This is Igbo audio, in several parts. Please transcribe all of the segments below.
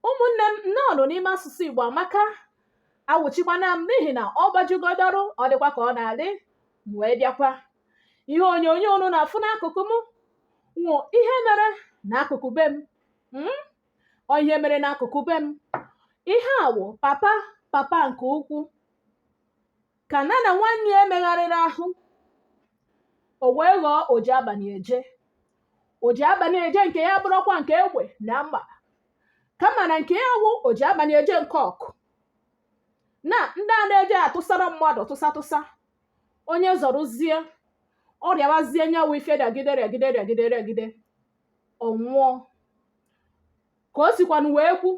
ụmụnne m nnọọ nụ n'ime asụsụ igbo amaka awụchikwana m n'ihi na ọ gbajugodoro ọ dịkwa ka ọ na-adị m wee bịakwa ihe onyonyo unu na-afụ n'akụkụ m wụ ihe mere n'akụkụ be m mm? ọ ihe mere n'akụkụ be m ihe a wụ papa papa nke ukwu ka na na nwanne ya emegharịrị ahụ o wee ghọọ oji abalị eje oji abalị eje nke ya bụrụkwa nke egbe na mma kama na nke ya wụ oji abalị eje nke ọgwụ na ndị a na-eje atụsara mmadụ tụsa tụsa onye zọrụzie ọ rịawazie nya wụ ife rịagide rịagide rịagide rịagide ọ nwụọ ka o sikwanụ wee kwu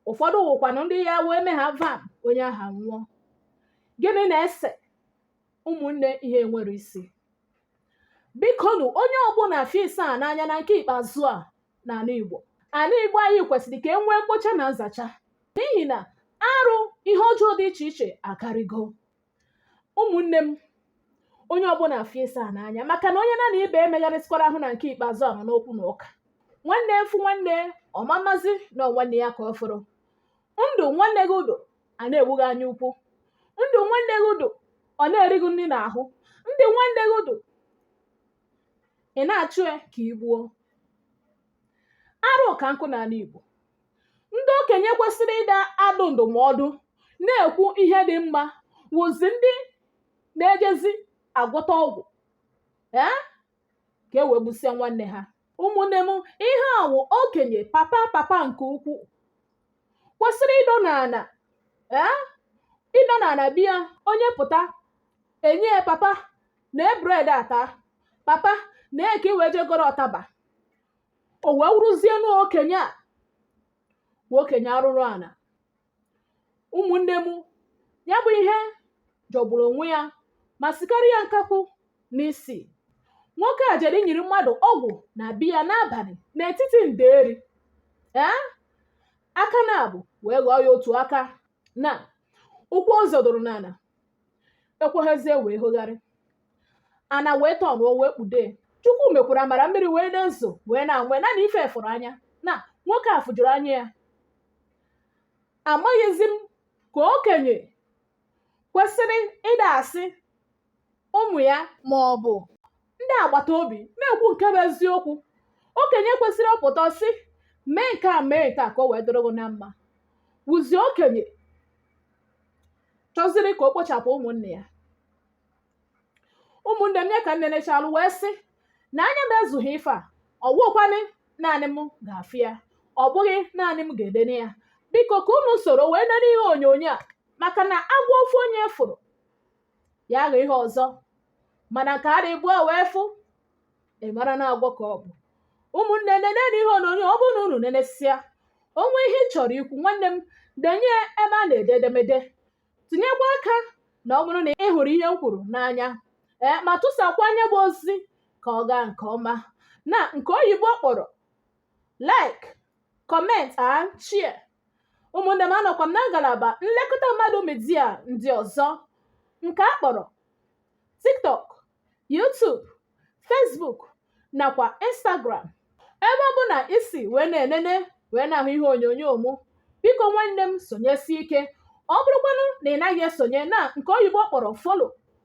ụfọdụ wụkwanụ ndị ya wee mee ha vam onye ahụ anwụọ gịnị na-ese ụmụnne ihe nwere isi biko nụ onye ọbụla fie asaa n'anya na nke ikpeazụ a n'ala igbo ala igbo anyị kwesịrị ka e nwee mkpocha na nzacha n'ihi na arụ ihe ọjọọ dị iche iche akarịgo ụmụnne m onye ọbụla fie asaa n'anya maka na onye na na ibe emegharịsịkwara ahụ na nke ikpeazụ a nọ n'okwu na ụka nwanne fụ nwanne ọ mamazi na nwanne ya ka ọ fụrụ ndụ nwanne gị dụ a na-egbu gị anya ukwu ndụ nwanne gị dụ ọ na-eri gị nri n'ahụ ndụ nwanne gị dụ ị na-achụ ya ka ị gbuo arụ ka nkụ n'ala Igbo ndị okenye kwesịrị ịda adụ ndụmọdụ na-ekwu ihe dị mma wụzi ndị na-ejezi agwọta ọgwụ ee ka e wee gbusịa nwanne ha ụmụnne m ihe a wụ okenye papa papa nke ukwu kwesịrị ịdọ n'ala ee ịdọ n'ala bịa onye pụta enye ya papa na bread ata papa nee ka ị wee je goro ụtaba o wee wụrụzie na okenye a wụ okenye arụrụ ala ụmụnne m ya bụ ihe jọgburu onwe ya ma sikarịa nkakwu n'isi nwoke a jere inyiri mmadụ ọgwụ na be ya n'abalị n'etiti nderi ee aka naabọ wee ghọọ ya otu aka na ụkwụ ọ zọdoro n'ala ekweghịzi ya wee hogharị ana wee tọnụ o wee kpude chukwu mekwara amara mmiri wee na-ezo wee na-anwe naanị ife fụrụ anya na nwoke a fụjuru anya ya amaghịzi m ka okenye kwesịrị ịda asị ụmụ ya ma ọ bụ ndị agbata obi na-ekwu nke bụ eziokwu okenye kwesịrị ọ pụta sị mee nke a mee nke a ka o wee dịrị gị na mma wụzi okenye chọziri ka o kpochapụ ụmụnne ya ụmụnne m ya ka m nenechalụ wee sị na anya m ezughị ife a ọ bụkwanụ naanị m ga-afụ ya ọ bụghị naanị m ga-enene ya biko ka unu soro wee nene ihe onyonyo a maka na agwọ ofu onye fụrụ ya aghọ ihe ọzọ mana nke a dị ịbụọ wee fụ ị mara na agwọ ka ọ bụ ụmụnne nenenu ihe onyonyo ọ bụrụ na unu nenesịa o nwee ihe ị chọrọ ikwu nwanne m denye ebe a na-ede edemede tinyekwa aka na ọ bụrụ na ị hụrụ ihe m kwuru n'anya ee ma tụsakwaa nya bụ ozi ka ọ gaa nke ọma na nke oyibo kpọrọ like comment and share ụmụnne m anọkwa m na ngalaba nlekọta mmadụ media ndị ọzọ nke a kpọrọ tiktok youtube facebook nakwa instagram ebe ọbụna i si wee na-enene wee na-ahụ ihe onyonyo mụ biko nwanne m sonyesie ike ọ bụrụkwanụ na ị naghị esonye na nke oyibo kpọrọ follow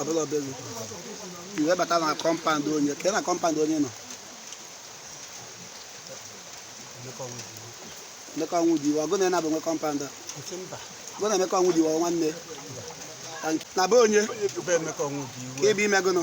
ọbụla obere iwe bata na compound onye ka na compound onye nọ emeka ọnwụdiwe ọ gụ na enabụ nwe compound a gụ na emeka ọnwụdiwe nwanne na be onye ka i bi me gụnụ